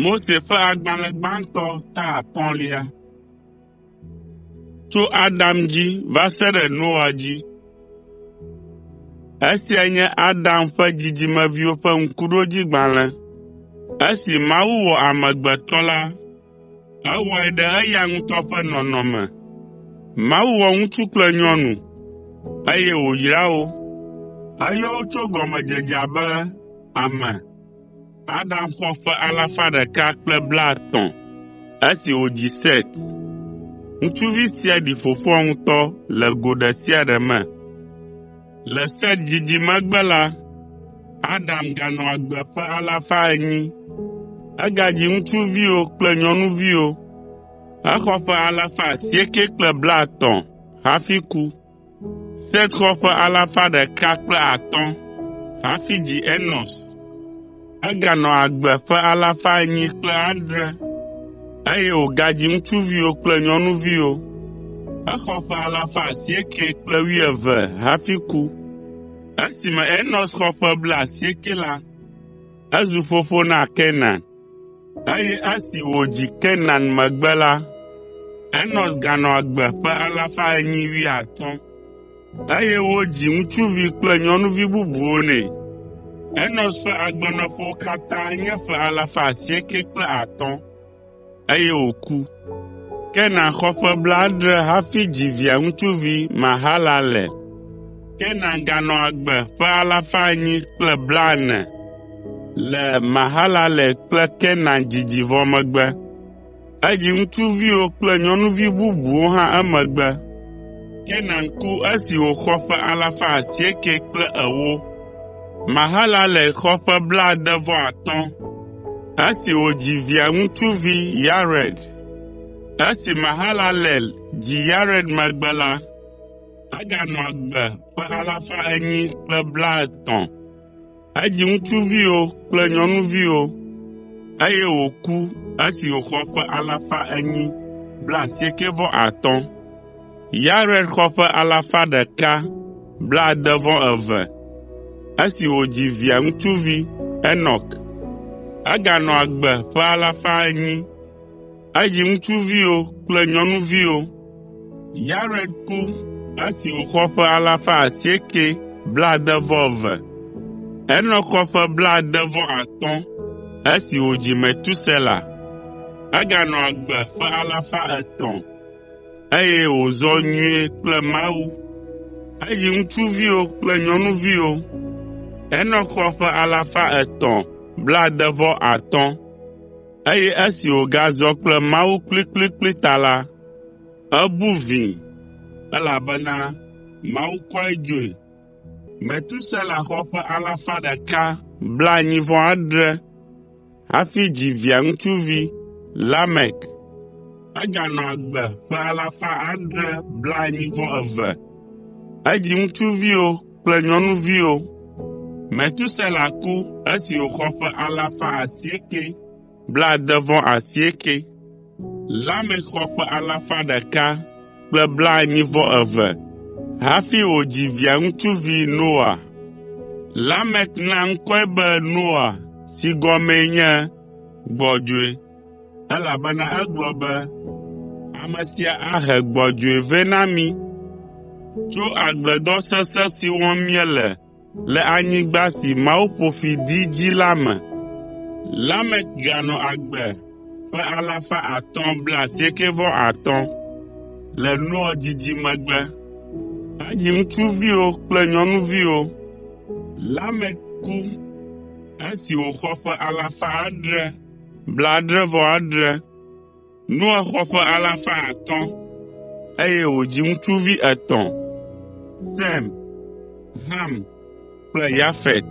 Mose ƒe agbalẽ gbãtɔ ta atɔ̃lia. Tso Adam dzi va se ɖe Noa dzi. Esia nye Adam ƒe dzidzimeviwo ƒe ŋkuɖodzigbalẽ. Esi Mawu wɔ amegbetɔ la, Ewɔe ɖe eya ŋutɔ ƒe nɔnɔme me. Mawu wɔ ŋutsu kple nyɔnu, eye wòyra wo. Eyɔ wo tso gɔmedzedzea be “ame.” Adam xɔ ƒe alafa ɖeka kple blaetɔ̃ (153) esi wòdzi Set. Ŋutsuvi sia ɖi fofoa ŋutɔ le go ɖe sia ɖe me. Le Set didi megbe la, Adam ganɔ agbe ƒe alafa enyi. Egadzi ŋutsuviwo kple nyɔnuviwo. Exɔ ƒe alafa asiekɛ kple blaetɔ̃ (930) hafi ku. Set xɔ ƒe alafa ɖeka kple atɔ̃ (105) hafi dzi Enos. Eganɔ agbe ƒe alafa enyi kple adre (807), eye wògadzi ŋutsuviwo kple nyɔnuviwo. Exɔ ƒe alafa asiekɛ kple wuieve (912) hafi ku. Esime Enos xɔ ƒe blaasiekɛ la, ezu fofo na Kenan, eye esi wòdzi Kenan megbe la, Enos ganɔ agbe ƒe alafa enyi wuiatɔ̃ (815). Eye wodzi ŋutsuvi kple nyɔnuvi bubuwo nɛ. Enos ƒe agbenɔƒewo katã nye ƒe alafa asieke kple atɔ̃ (950), eye wòku. Kenan xɔ ƒe blaadre hafi dzi Via ŋutsuvi Mahalalel. Kenan ganɔ agbe ƒe alafa enyi kple blaene (840) le Mahalalel kple Kenan dzidzi vɔ megbe. Edzi ŋutsuviwo kple nyɔnuvi bubuwo hã emegbe. Kenan ku esi wòxɔ ƒe alafa asiekɛ kple ewo. Mahalalel xɔ ƒe blaade-vɔ-atɔ̃ esi wòdzi Via ŋutsuvi Yared. Esi Mahalalel dzi Yared megbe la, eganɔ agbe ƒe alafa enyi kple blaetɔ̃ (830). Edzi ŋutsuviwo kple nyɔnuviwo, eye wòku esi wòxɔ ƒe alafa enyi blaasiekɛ-vɔ-atɔ̃ (895). Yared xɔ ƒe alafa ɖeka blaade-vɔ-eve (162) esi wòdzi Via ŋutsuvi Enɔk. Eganɔ agbe ƒe alafa enyi (800). Edzi ŋutsuviwo kple nyɔnuviwo. Yared ku esi wòxɔ ƒe alafa asieke blaade-vɔ-eve. Enɔk xɔ ƒe blaade-vɔ-atɔ̃ esi wòdzi Metusela. Eganɔ agbe ƒe alafa etɔ̃, eye wòzɔ nyuie kple Mawu. Edzi ŋutsuviwo kple nyɔnuviwo. Enɔk xɔ ƒe alafa etɔ̃ blaade-vɔ-atɔ̃. Eye esi wògazɔ kple Mawu kplikplikpli ta la, ebu vĩi, elabena Mawu kɔe dzoe. Metusela xɔ ƒe alafa ɖeka blaenyi-vɔ-adre (187) hafi dzi Via ŋutsuvi, Lamek. Eganɔ agbe ƒe alafa adre blaenyi-vɔ-eve (782). Edzi ŋutsuviwo kple nyɔnuviwo. Metusela ku esi wòxɔ ƒe alafa asieke blaade-vɔ-asieke. Lamek xɔ ƒe alafa ɖeka kple blaenyi-vɔ-eve hafi wòdzi Via ŋutsuvi Noa. Lamek na ŋkɔe be Noa si gɔmee nye Gbɔdzɔe. Elabena egblɔ be, “Ame sia ahe gbɔdzɔe vɛ na mí tso agbledɔ sesẽ si wɔm míele le anyigba si Mawu ƒo fi dii dzi la me.” Lamek ganɔ agbe ƒe alafa atɔ̃ blaasiekɛ-vɔ-atɔ̃ (595) le Noa didi megbe henyi ŋutsuviwo kple nyɔnuviwo. Lamek ku esi wòxɔ ƒe alafa adre (750). Blaadre-vɔ-adre. Noa xɔ ƒe alafa atɔ̃ (500), eye wòdzi ŋutsuvi etɔ̃: Sem, Ham kple Yafet.